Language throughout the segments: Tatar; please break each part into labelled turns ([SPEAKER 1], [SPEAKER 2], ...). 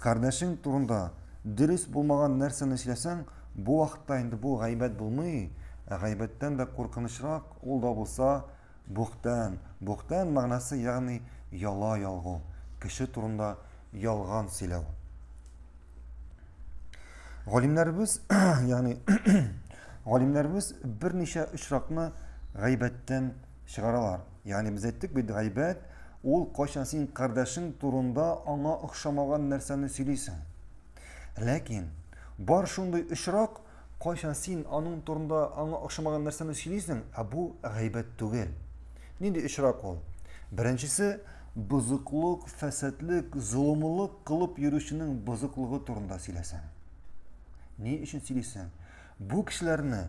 [SPEAKER 1] Кардәшең турында дөрес булмаган нәрсәне эшләсәң, бу вакытта инде бу гайбәт булмый, ә гайбәттән дә куркынычрак ул да булса бухтән. Бухтән мәгънәсе, ягъни яла ялгу, кеше турында ялган сөйләү. Галимнәребез, ягъни галимнәребез берничә очракны гайбәттән чыгаралар. Ягъни без әйттек бит, гайбәт ул кайчан син кардәшең турында аңа охшамаган нәрсәне сөйлисең. Ләкин бар шундый очрак, кайчан син аның турында аңа охшамаган нәрсәне сөйлисең, ә бу гайбәт түгел. Нинди очрак ул? Беренчесе бозыклык, фәсадлек, золымлык кылып йөрүченең бозыклыгы турында сөйләсәң. Ни өчен сөйлисең? Бу кешеләрне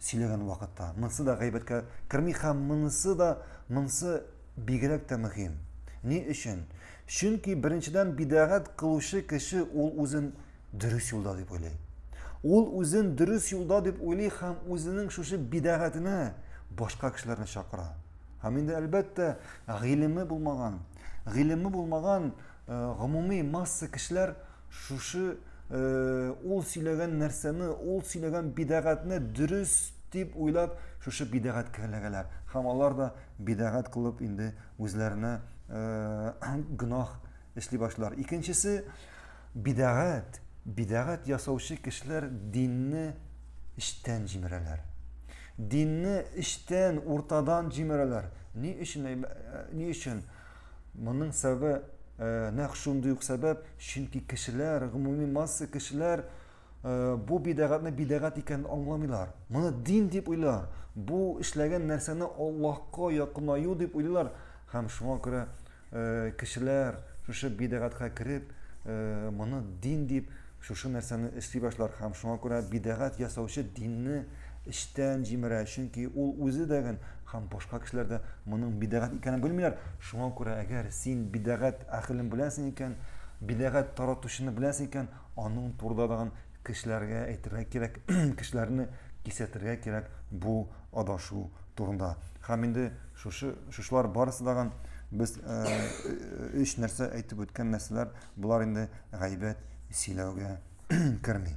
[SPEAKER 1] сөйләгән вакытта. Монысы да гайбәткә керми һәм монысы да монысы бигрәк тә мөһим. Ни өчен? Чөнки беренчедән бидәгать кылучы кеше ул үзен дөрес юлда дип уйлый. Ул үзен дөрес юлда дип уйлый һәм үзенең шушы бидәгатенә башка кешеләрне чакыра. Һәм инде әлбәттә, гыйлеме булмаган, гыйлеме булмаган Э, гомуми масса кешеләр шушы э, ул сөйләгән нәрсәне ул сөйләгән бидәгатьне дөрес дип уйлап шушы бидәгать керләгәләр һәм алар да бидәгать кылып инде үзләренә э, гөнаһ эшли башлар икенчесе бидәгать бидәгать ясаучы кешеләр динне эчтән җимерәләр динне эчтән уртадан җимерәләр ни өчен ни өчен Моның сәбәбе э, нәкъ шундый ук сәбәп, чөнки кешеләр, гомуми масса кешеләр э, бу бидәгатьне бидәгать икәнен аңламыйлар. Моны дин дип уйлар. Бу эшләгән нәрсәне Аллаһка якынаю дип уйлыйлар һәм шуңа күрә э, кешеләр шушы бидәгатькә кереп, моны дин дип Шушы нәрсәне эшли башлар һәм шуңа күрә бидәгать ясаучы динне эчтән җимерә, чөнки ул үзе дә гел һәм башка кешеләр дә моның бидәгать икәнен белмиләр. Шуңа күрә әгәр син бидәгать әһелен беләсең икән, бидәгать таратучыны беләсең икән, аның турыда тагын кешеләргә әйтергә кирәк, кешеләрне кисәтергә кирәк бу адашу турында. Һәм инде шушы, шушылар барысы тагын без өч нәрсә әйтеп үткән нәрсәләр Болар инде гайбәт сөйләүгә керми.